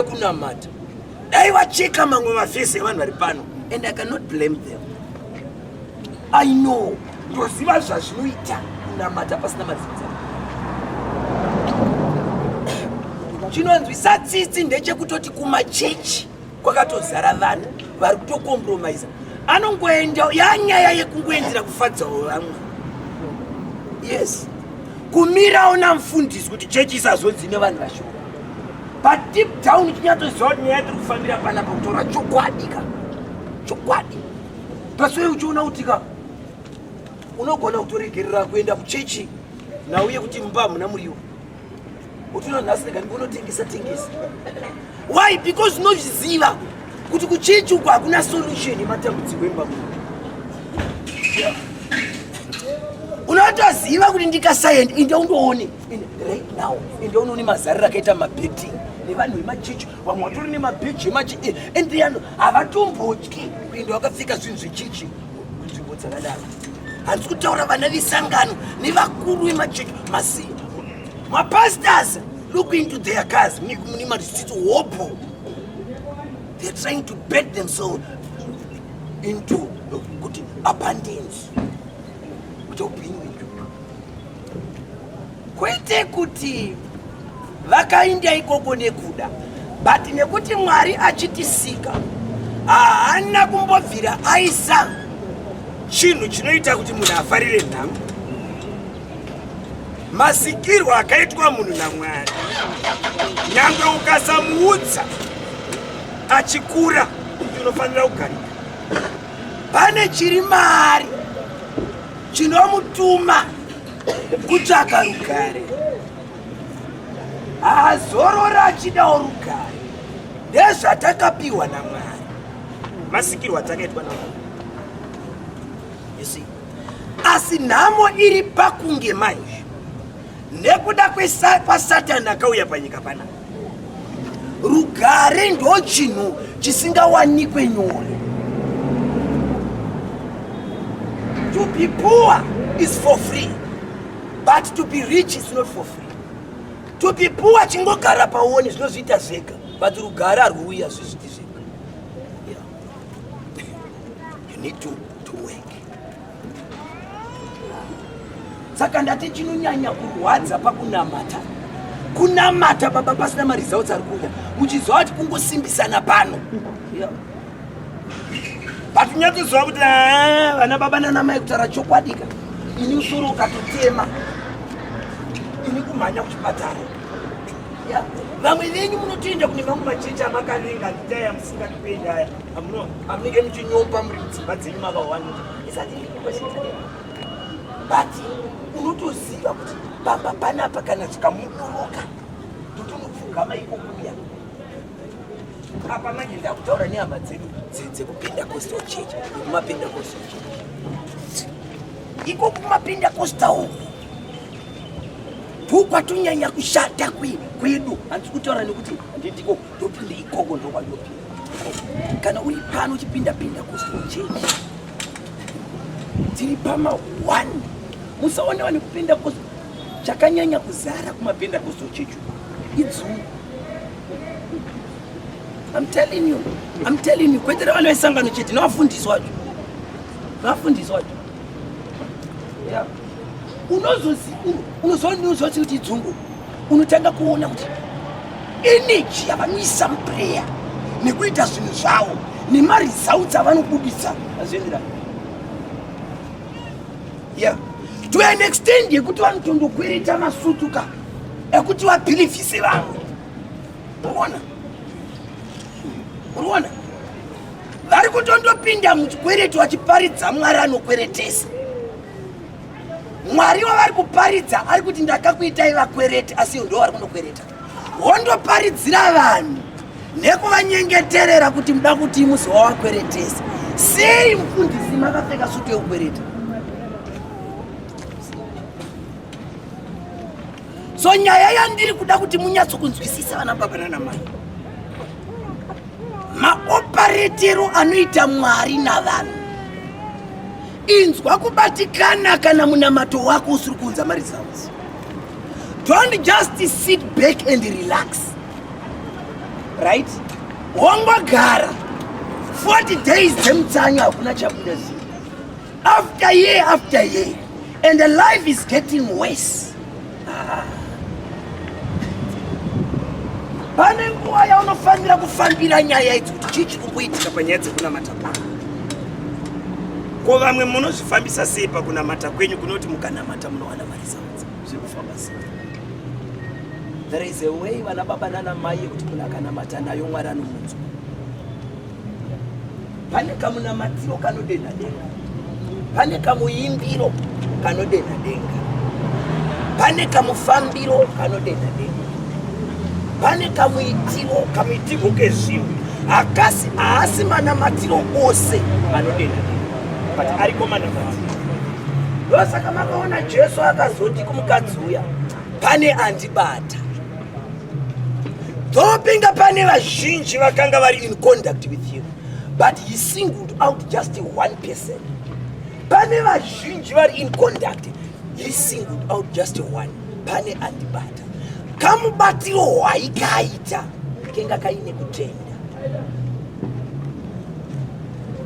kunamata dai vacheka mamwe mafesi evanhu vari pano and i cannot blame them i know ndoziva zvazvinoita kunamata pasina mazinza chinonzwisa tsitsi ndechekutoti kumachechi kwakatozara vanhu vari kutokompromisa anongoenda yanyaya yekungoendera kufadzawo vamwe yes kumirawo namfundisi kuti chechi isazodzi nevanhu vashoma padeep down tinyatsoziva kuti nyaya tiri kufambira pana pakutaura chokwadi ka chokwadi pasoi uchiona kuti ka unogona kutoregerera kuenda kuchechi nauye kuti mumba hamuna muriwo utoona nhasi rega ndikonotengesa tengesa why because unozviziva kuti kuchechi uko hakuna solution yematambudziko emba muno unotoziva kuti ndikasaendi inde undoone In right now ende uno une mazariro akaita mabheti nevanhu vemachichi vamwe vatori nemabheji emachi eh, ende yano havatombotyi kuenda wakapfeka zvinhu zvechichi nzvimbo dzakadaro handisi kutaura vana vesangano nevakuru vemachichi masi mapastors look into their cars mune marisitsi hopo they're trying to bet themselves into kuti abundance kuti upenyu kwete kuti vakainda ikoko nekuda but nekuti mwari achitisika haana kumbobvira aisa chinhu chinoita kuti munhu afarire nhamo masikirwo akaitwa munhu namwari nyange ukasamuudza achikura kuti unofanira kugarika pane chiri maari chinomutuma kutsvaga rugare haazorora achidawo rugare ndezvatakapiwa namwari masikirwo atakaitwa namwari asi nhamo iri pakunge maizvi nekuda kwasatani akauya panyika pana rugare ndo chinhu chisingawanikwe nyore to be poor is for free but to be rich is not for free to be poor chingogara paone zvinozviita zvega but rugare arwuuya zvizviti zvega yeah. you need to, to work saka ndati chinonyanya kurwadza pakunamata kunamata baba pasina maresults ari kuuya muchiziva kuti kungosimbisana pano but nyatsoziva kuti ah, vana baba nana mai kutaura chokwadika ini usoro ukatotema ini kumhanya kuchipatara vamwe venyu munotoenda kune mamwe machechi amakavenga nditaya musingatipendi aya Amnike muchinyopa muri mudzimba dzenyu makawanda. Isati but unotoziva kuti pamba panapa kana chikamudoroka ndotonopfugama ikokuya apa manje ndakutaura nehama dzedu dzekupendacostal church nekumapendacostal church iko kumapendacostal uku bhuku kwatonyanya kushata kwedu handisi kutaura nekuti handindiko ndopinda ikoko ndokwandopinda kana uri pano uchipinda pinda kustochechi dziri pama one musaona vane kupinda kos chakanyanya kuzara kumapinda kustochechi idzuu I'm telling you, I'm telling you, kwete vana vesangano chete nevafundisi wacho, nevafundisi wacho yeah. unozoziva unozoona unozoziva kuti idzungu unotanga kuona kuti eneji yavanoisa mupureya nekuita zvinhu zvavo nemaresults avanobudisa azvienderani yeah. to an extend yekuti vanotondokwereta masutu ka ekuti vabhilivhise vamwe uona uona vari kutondopinda muchikwereto vachiparidza mwari anokweretesa Mwari wavari kuparidza ari kuti ndakakuitai vakwereti asi ivo ndoo vari kunokwereta. Wondoparidzira vanhu nekuvanyengeterera kuti muda kuti musi wawakweretesa. Sei mfundisi makapfeka sutu yekukwereta? So nyaya yandiri kuda kuti munyatso kunzwisisa vana baba nana mai. Maoparetero anoita Mwari navanhu Inzwa kubatikana kana munamato wako usiri kuunza maresults. Don't just sit back and relax. Right? Wongogara. 40 days dzemutsanyo hakuna chabuda zii. After year after year. And the life is getting worse. pane nguva yaunofanira kufambira nyaya idzi kuti chii chiri kumboitika panyaya dzekunamata kwako ko vamwe munozvifambisa sei pakunamata kwenyu kunoti mukanamata munowana mari zaudza zviri kufamba sei there is a way vana baba nana mai yekuti munhu akanamata nayo mwari anomunzwa pane kamunamatiro kanodenha denga pane kamuimbiro kanodenha denga pane kamufambiro kanodenha denga pane kamuitiro kamuitirwo kezvinhu akasi haasi manamatiro ose anodenha denga but ariko manamatiro ndosaka makaona jesu akazoti kumukadzi uya pane andibata Dhopinga pane vazhinji vakanga vari in contact with him but he singled out just one person. Pane vazhinji vari in contact he singled out just one pane andibata kamubatiro hwaikaita kenga kaine kutenda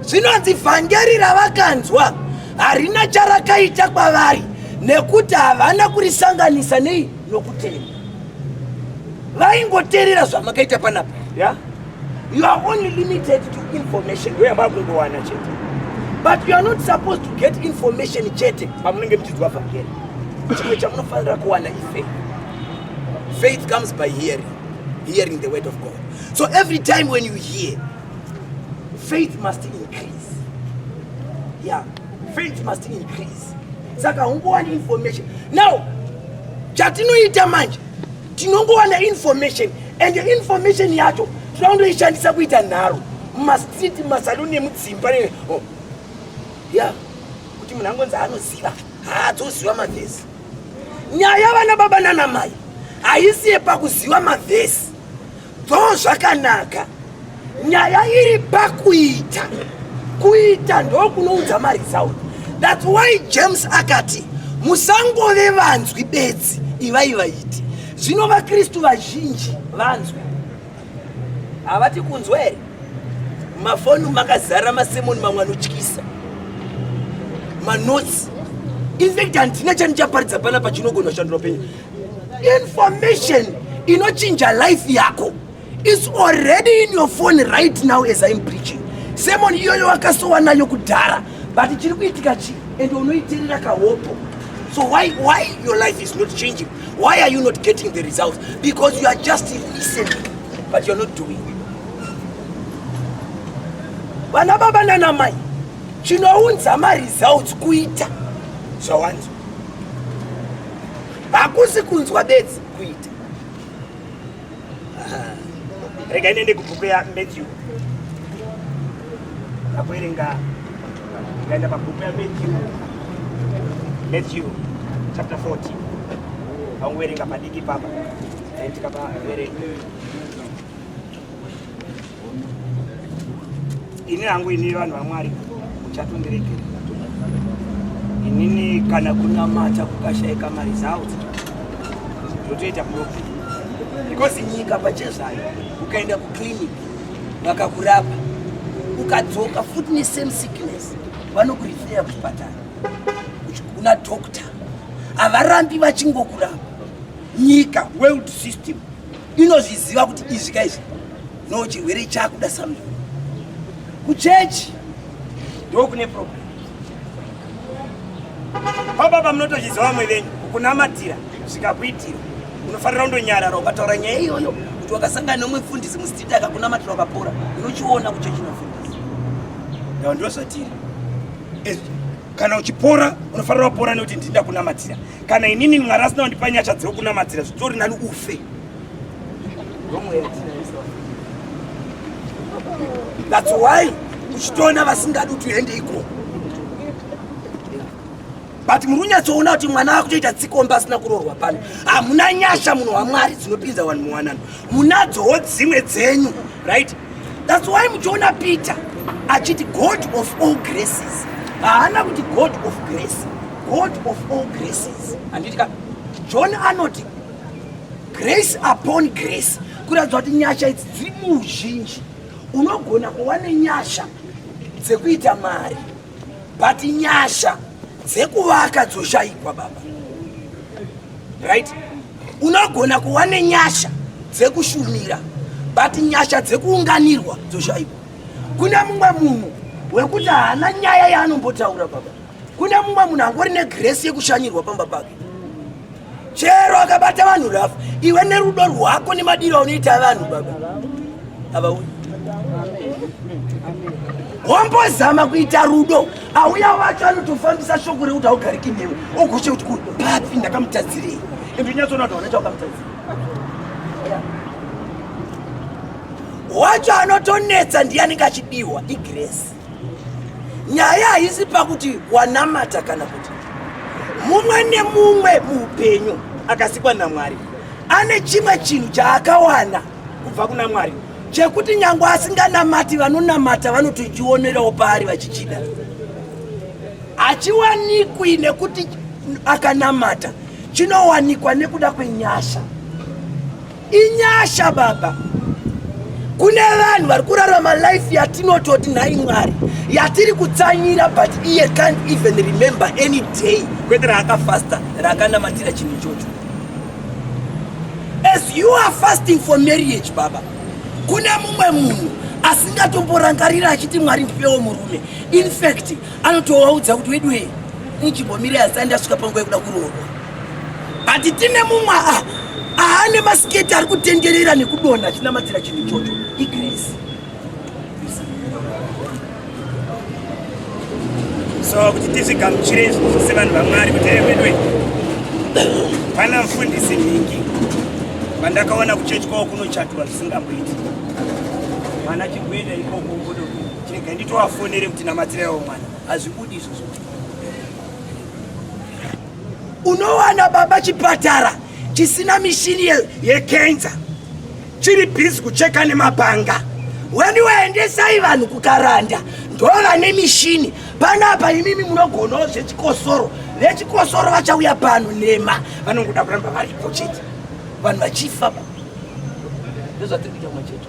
zvinonzi vhangeri ravakanzwa harina charakaita kwavari nekuti havana kurisanganisa nei nokutenda vaingoterera zvamakaita panapa yeah? you are only limited to information ndoyamba kungowana chete but you are not supposed to get information chete pamunenge muchidzwa vhangeri chimwe chamunofanira kuwana ifaith faith comes by hearing hearing the word of god so every time when you hear faith must increase yeah faith must increase saka ungowani information now chatinoita manje tinongowana information and information yacho tinoondoishandisa kuita nharo mumastreet mumasaluni emudzimba oh. ya kuti munhu angonzi anoziva haadzoziva mavhesi nyaya vana baba nana mai haisi yepakuziva mavhesi Dzoo zvakanaka. Nyaya iri pakuita. Kuita ndokunoudza maresult. That's why James akati musangove vanzwi bedzi ivai vaiti. Zvino vaKristu vazhinji vanzwi. Havati kunzwa here? Mafoni makazara masemoni mamwe anotyisa. Manotsi. In fact handina chandichaparidza pana pachinogona kushandura upenyu. Information inochinja life yako. It's already in your phone right now as I'm preaching. Semon iyoyo wakasowa nayo kudhara but chiri kuitika chi and unoiterera kahopo. So why why your life is not changing? Why are you not getting the results? Because you are just listening but you're not doing. Vana baba nana mai chinounza maresults kuita zvawanzwa hakusi kunzwa bedzi kuita rega inende kubhuku ya matthew akuerenga ngaenda pabhuku ya matthew matthew chapter 14 vanguerenga padiki papa tikapa verenga ini hangu ini vanhu vamwari muchatondiregerera inini kana kunamata kukashaika mari zawo zvotoita profit because nyika pachezvayo ukaenda kuclinic vakakurapa ukadzoka futi nesame sickness vanokurifeya kuchipatara kuna doctor havarambi vachingokurapa nyika world system inozviziva kuti izvi ka izvi no chirwere chakuda something kuchechi ndo kune problem kwababa munotozviziva vamwe venyu kunamatira zvikakuitira unofanira kundonyarara ukataura nyaya iyoyo kuti wakasangana nomwe mfundisi mustiti akakunamatira wakapora unochiona kuchechi nofundisi ndava ndozvatiri kana uchipora unofanira wapora nekuti ndinda kunamatira kana inini mwari asina kundipa nyasha dzekunamatira zvitori nani ufe thats why uchitoona vasingadi kuti uende ikoko but muri unyatsoona kuti mwana akutoita tsikomba asina kurorwa pano hamuna nyasha munhu wamwari dzinopinza vanhu muwanano munadzowo dzimwe dzenyu right thats why muchiona peter achiti god of all graces haana kuti god of grace god of all graces handitika john anoti grace upon grace kuratidza kuti nyasha idzi dziri muuzhinji unogona kuva nenyasha dzekuita mari but nyasha dzekuvaka dzoshaikwa baba right unogona kuva nenyasha dzekushumira but nyasha dzekuunganirwa dzoshaikwa kune mumwe munhu wekuti haana nyaya yaanombotaura baba kune mumwe munhu angori negresi yekushanyirwa pamba pake chero akabata vanhu rafu iwe nerudo rwako nemadiro aunoita vanhu baba avauyi wambozama kuita rudo auya wacho anotofambisa shoko rekuti augariki newe ogoshe kuti ku papi ndakamutadzirei ende unyatsoona kuti hauna chaukamutadzira wacho anotonetsa ndiye anenge achidiwa igresi nyaya haisi pakuti wanamata kana kuti mumwe nemumwe muupenyu akasikwa namwari ane chimwe chinhu chaakawana kubva kuna mwari chekuti nyange asinganamati vanonamata vanotochionerawo paari vachichida hachiwanikwi nekuti akanamata chinowanikwa nekuda kwenyasha Inyasha baba. Kune vanhu vari kurarama life yatinototi nhai Mwari yatiri kutsanyira but iye can't even remember any day kwete raakafasta raakanamatira chinhu ichocho. As you are fasting for marriage baba. Kune mumwe munhu asingatomborangarira achiti Mwari ndipewo murume. In fact anotovaudza kuti weduwe nijibomire asandi asvika panguva yekuda kuroorwa. but tine mumwe aane masiketi ari kutenderera nekudonha achinamatira chinhu ichocho igrace so kuti tizvigamuchire izvi sevanhu vamwari kuti evedwe pana mfundisi nhingi vandakaona kuchechi kwavo kunochatwa zvisingamboiti mwana chikuenda ikoko ngodo chirega nditovafonere kuti namatiraiwo mwana hazvibudi izvozvo Unowana baba chipatara chisina mishini yekenza chiri bhizi kucheka nemapanga weni waendesai vanhu kukaranda ndova nemishini panapa imimi munogonawo zvechikosoro vechikosoro vachauya pano nema vanongoda kuramba varipo chete vanhu vachifa ndozvatiri kuita machete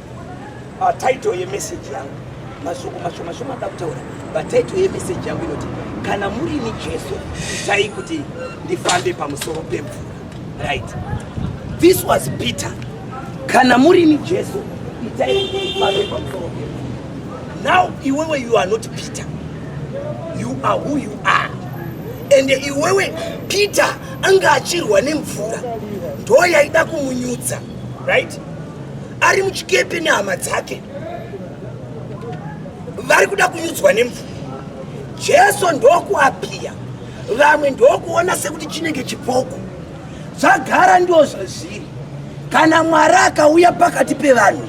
Title yemessage yangu mashoko mashoma shoma da kutaura but title yemessage yangu inoti kana muri ni Jesu itai kuti ndifambe pamusoro pemvura right this was Peter kana muri ni Jesu itai kuti ndifambe pamusoro pemvura now iwewe you are not Peter you are who you are and iwewe Peter anga achirwa nemvura ndo yaida kumunyudza right ari muchikepe nehama dzake vari kuda kunyudzwa nemvura jesu ndokuapiya vamwe ndokuona sekuti chinenge chipoko zvagara ndo zvazviri kana mwari akauya pakati pevanhu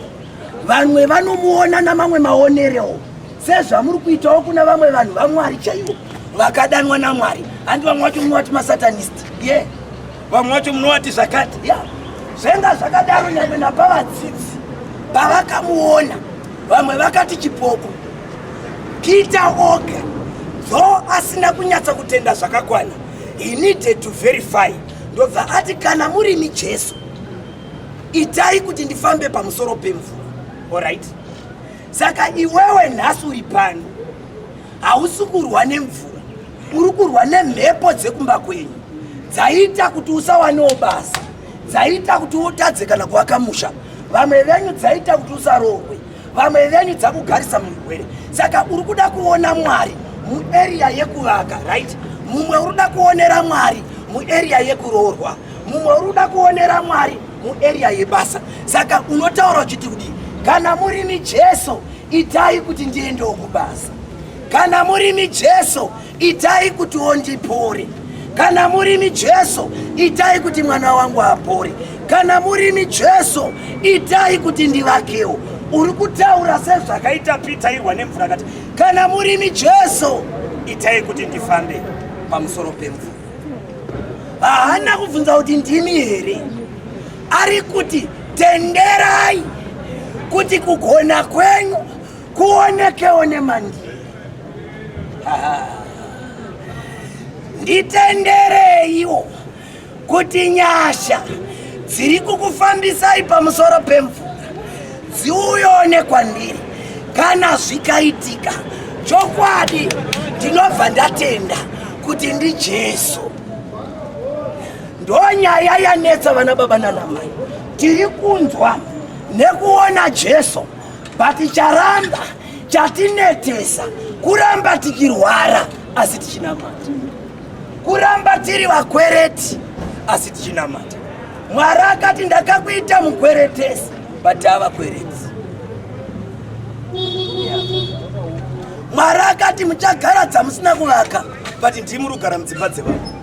vanwe vanomuona namamwe maonerewo sezvamuri kuitawo kuna vamwe vanhu vamwari chaivo vakadanwa namwari handi vamwe vacho mumwe vati masatanist ye yeah. vamwe vacho munovati zvakati ya zvenga zvakadaro nyamwe napavadzidzi pavakamuona vamwe vakati chipoko peter oga dho asina kunyatsa kutenda zvakakwana he needed to verify ndobva ati kana murimi jesu itai kuti ndifambe pamusoro pemvura orit saka iwewe nhasi uri pano hausi kurwa nemvura uri kurwa nemhepo dzekumba kwenyu dzaita kuti usawanewo basa dzaita kuti utadze kana kuvaka musha vamwe venyu dzaita kuti usarohwe vamwe venyu dzakugarisa murwere saka uri kuda kuona mwari muarea yekuvaka right mumwe uri kuda kuonera mwari muarea yekuroorwa mumwe uri kuda kuonera mwari muarea yebasa saka unotaura uchiti kudii kana muri mijeso itai kuti ndiendewo kubasa kana murimi jesu itai kuti ondipore kana murimi jesu itai kuti mwana wangu apore kana murimi jesu itai kuti ndivakewo uri kutaura sezvakaita pitairwa nemvura kati kana murimi jesu itai kuti ndifambe pamusoro pemvura haana kubvunza kuti ndimi here ari kuti tenderai kuti kugona kwenyu kuonekewo nemandi nditendereiwo kuti nyasha dziri kukufambisai pamusoro pemvura dziuyone kwandiri kana zvikaitika chokwadi ndinobva ndatenda kuti ndijesu Ndonyaya yanetsa vana baba nana mai. Tiri kunzwa nekuona Jesu but charamba chatinetesa kuramba tikirwara asi tichinamata. Kuramba tiri vakwereti asi tichinamata. Mwari akati ndakakuita mukweretesi but ava kwereti. Mwari akati muchagara dzamusina kuvaka but ndimuri kugara mudzimba dzevanhu.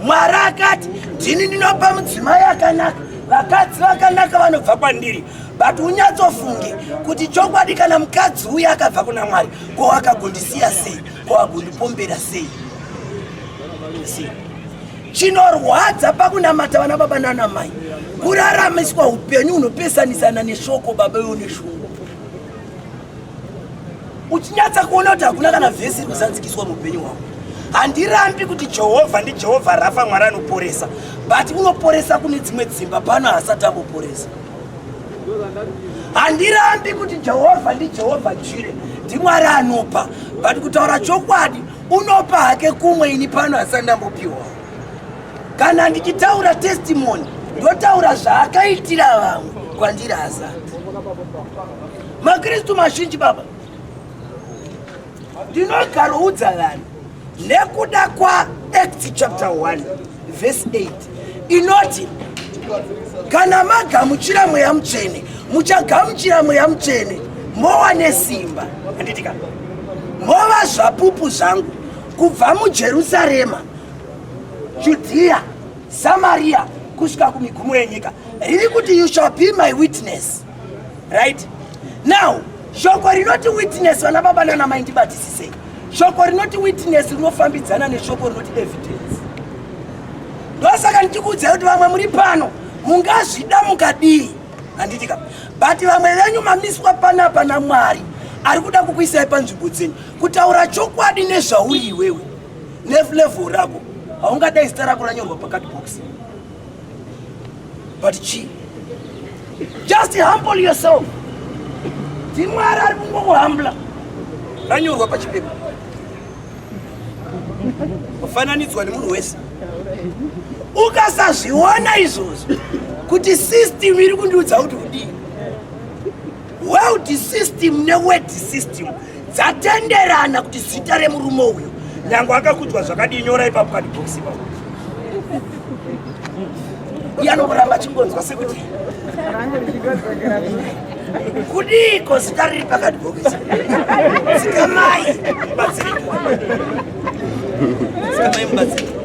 mwari akati ndini ndinopa mudzimai akanaka vakadzi vakanaka vanobva kwandiri but unyatsofunge kuti chokwadi kana mukadzi uye akabva kuna mwari ko akagondisiya sei ko agondipombera sei chinorwadza pakunamata vana baba nana mai kuraramiswa upenyu hunopesanisana neshoko baba ivo neshoko uchinyatsa kuona kuti hakuna kana vhesi iri kuzanzikiswa muupenyu hwako handirambi kuti jehovha ndijehovha rafa mwari anoporesa but unoporesa kune dzimwe dzimba pano haasati amboporesa handirambi kuti jehovha ndijehovha jire ndimwari anopa but kutaura chokwadi unopa hake kumwe ini pano hasati ndambopiwa kana ndichitaura testimony ndotaura zvaakaitira vamwe kwandiri hasati makristu mazhinji baba ndinogaroudza vanhu nekuda kwaacts chapter 1 vhesi 8 inoti kana magamuchira mweya mutsvene muchagamuchira mweya mutsvene mowa nesimba anditika mova zvapupu zvangu kubva mujerusarema judhiya samariya kusvika kumigumo yenyika riri kuti you shall be my witness right now shoko rinoti witness vana baba nana mai ndibatisisei shoko rinoti witness rinofambidzana neshoko rinoti evidence ndosaka ndichikuudzai kuti vamwe muri pano mungazvida mukadii handiti ka but vamwe venyu mamiswa panapa namwari ari kuda kukuisai panzvimbo dzenyu kutaura chokwadi nezvauri iwewe neflevo rako haungadai zita rako ranyorwa pakati bokisi but chii just humble yourself ndimwari ari kungokuhambla ranyorwa pachipepa kufananidzwa nemunhu wese ukasazviona izvozvo kuti system iri kundiudza kuti kudii World system neword system dzatenderana kuti zita remurume uyu nyange akakudzwa zvakadii nyora ipapo kani box ipapo iye anomboramba achingonzwa sekuti kudiiko zita riri pakati bhokisi sikamai batsirika sikamai mubatsirika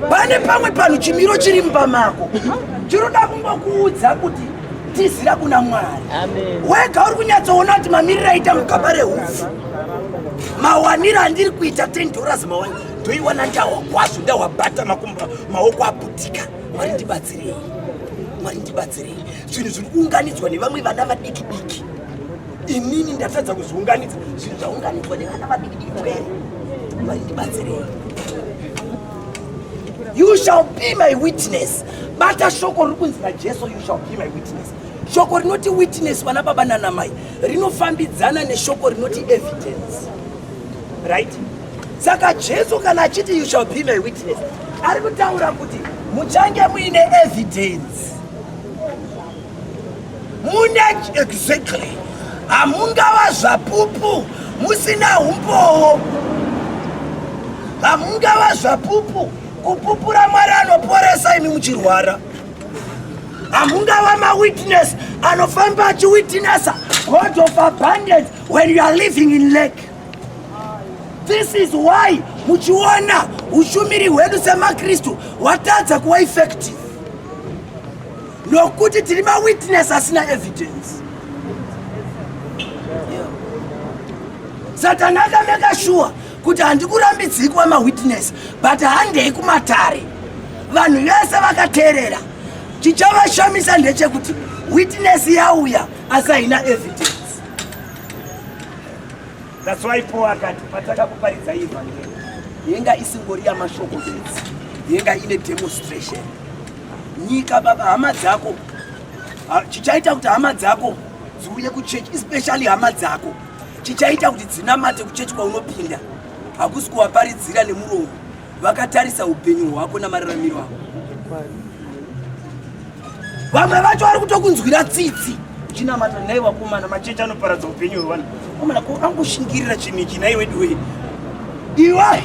pane pamwe panhu chimiro chiri mumba mako chinoda kungokuudza kuti tizira kuna mwari wega uri kunyatsoona kuti mamiriro aita mukaba rehupfu mawaniro andiri kuita ten dollars mawani ndoiwana ndawa kwazvo ndawabata makumba maoko aputika mwari ndibatsirei mwari ndibatsirei zvinhu zviri kuunganidzwa nevamwe vana vadiki diki inini ndatadza kuzviunganidza zvinhu zvaunganidzwa nevana vadiki diki kwere mwari ndibatsirei you shall be my witness bata shoko riri kunzi najesu you shall be my witness shoko rinoti witness vana baba nanamai rinofambidzana neshoko rinoti evidence right saka jesu kana achiti you shall be my witness ari kutaura kuti muchange muine evidence mune exactly hamungava zvapupu musina umbowo hamungava zvapupu kupupura mwari anoporesa imi muchirwara hamungava mawitness anofamba achiwitnessa god of abundance when you are living in lake this is why muchiona ushumiri hwedu semakristu hwatadza kuva effective nokuti tiri mawitness asina evidence satani akameka shuwa kuti handikurambidzii kuva mawitness but handei kumatare vanhu vese vakateerera chichavashamisa ndechekuti witness yauya asi haina evidence that's why paul akati patakakuparidza ivhangeri yenga isingori yamashoko bedzi yenga ine demonstration nyika baba hama dzako chichaita kuti hama dzako dziuye kuchechi especially hama dzako chichaita kuti dzinamate kuchechi kwaunopinda hakusi kuwaparidzira nemuromo vakatarisa upenyu hwako namararamiro ako vamwe vacho vari kutokunzwira tsitsi chinamata nai vakomana machechi anoparadza upenyu hwevanhu komana ko angoshingirira chinhu ichi nai weduwei iwa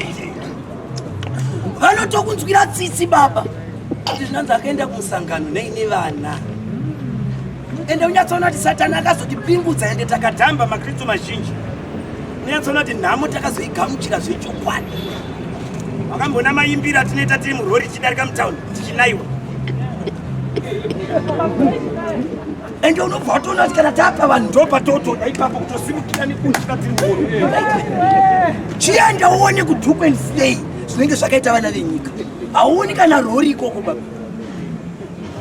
vanotokunzwira tsitsi baba kuti zvinanzi akaenda kumusangano nei nevana ende unyatsoona kuti satani akazotipingudza ende takatamba makristu mazhinji unyatsoona kuti nhamo takazoigamuchira zvechokwadi vakambona maimbiro atinoita tiri murori tichidarika mutown tichinaiwa ende unobva watoona kuti kana tapa vanhu ndopatotoda ipapo kutosimukira nekunzika tiri murori chienda uone kuduk and slay zvinenge zvakaita vana venyika hauoni kana rori ikoko baba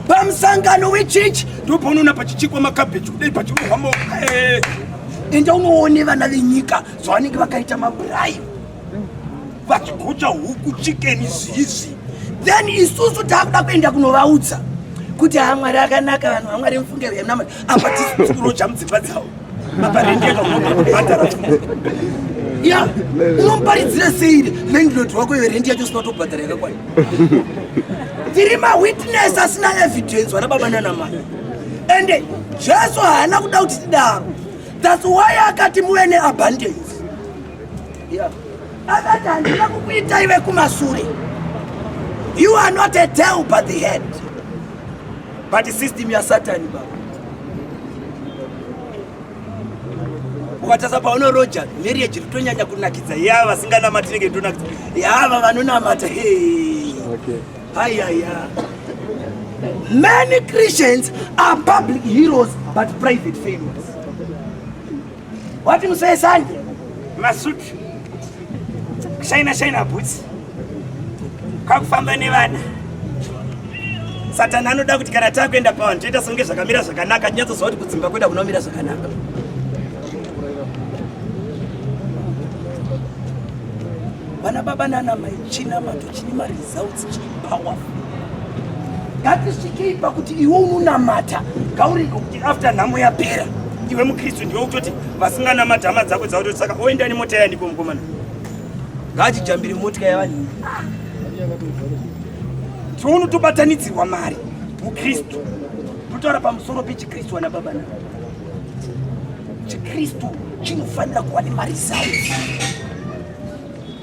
pamusangano wechechi ndopaunoona pachichekwa makabheji kudai pachirohwamo eh. enda unoone vana venyika zvavanenge vakaita maburayi vachigocha huku chikeni zizi then isusu taakuda kuenda kunovaudza kuti hamwari akanaka vanhu vamwari mufunge venamwari apa tisiuroja mudzimba dzavo ya unomparidzira sei landlord wako iwe rendi yacho sinatobhadhara yakakwana tiri mawitness asina evidence wana baba nanamai ende jesu haana kuda kuti tidaro thats why akati muve neabundance akati handina kukuita ive kumasure you are not a tail but the head But system ya Satan baba. Ukatasa paona Roger, marriage rutonyanya kunakidza. Ya vasinganamati nenge ndonakidza. Ya va vanonamata. Hey. Okay. Haya ya. Many Christians are public heroes but private failures. Wati musesanje masutu shaina shaina bhutsi kakufamba nevana satani anoda kuti kana takuenda pavanhu toita songe zvakamira zvakanaka tinyatsoziva kuti kudzimba kweda kunomira zvakanaka vana baba nana mai china mato chini mari Sounds powerful. Ngatisvikei pakuti iwe unonamata ngauriko kuti after nhamo yapera iwe mukristu ndiwe kutoti vasinganamati hama dzako dzakutoti saka oenda nemota yandiko mukomana ngaachijambire motika yavanhu tiunotobatanidzirwa mari mukristu totaura pamusoro pechikristu wana baba na chikristu chinofanira kuva nemari zayo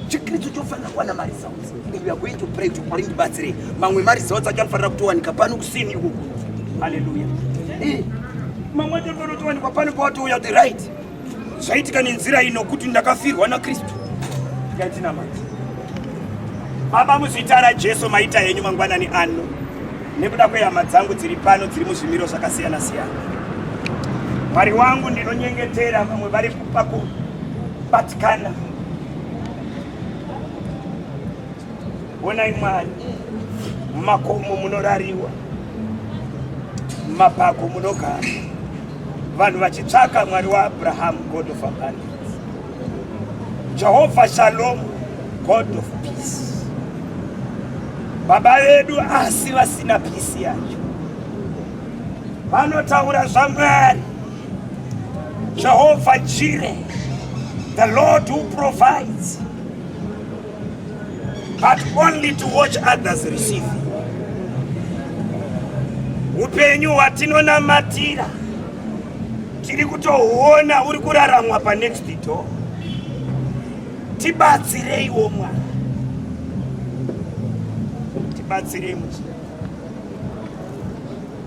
chikritsu chofanira kuwana maresults and we are going to pray to mwari ndibatsirei mamwe maresults acho anofanira kutowanika pano kusini ikuku haleluya eh, mamwe acho anofanira kutowanikwa pano pawatouya the right zvaitika nenzira ino kuti ndakafirwa nakristu yatina manje baba muzita rajesu maita henyu mangwanani ano nekuda kwehama dzangu dziri pano dziri muzvimiro zvakasiyana siyana mwari wangu ndinonyengetera vamwe vari paku Batikana. Honai Mwari, mumakomo munorariwa, mumapako munogara, vanhu vachitsvaka Mwari waAbrahamu, God of abundance, Jehovha Shalom, God of peace. Baba vedu asi vasina peace yacho vanotaura zvaMwari Jehovah Jireh, the Lord who provides, but only to watch others receive. Upenyu hwatinonamatira tiri kutohuona uri kuraramwa pa next door. Tibatsireiwo mwana, tibatsirei muchira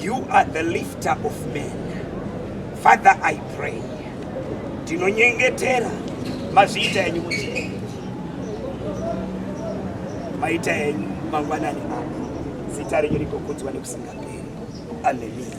You are the lifter of men. Father, I pray. Tinonyengetera mazita enyu kuti maita enyu mangwanani ano zita renyu rigokudzwa nekusingaperi. Hallelujah.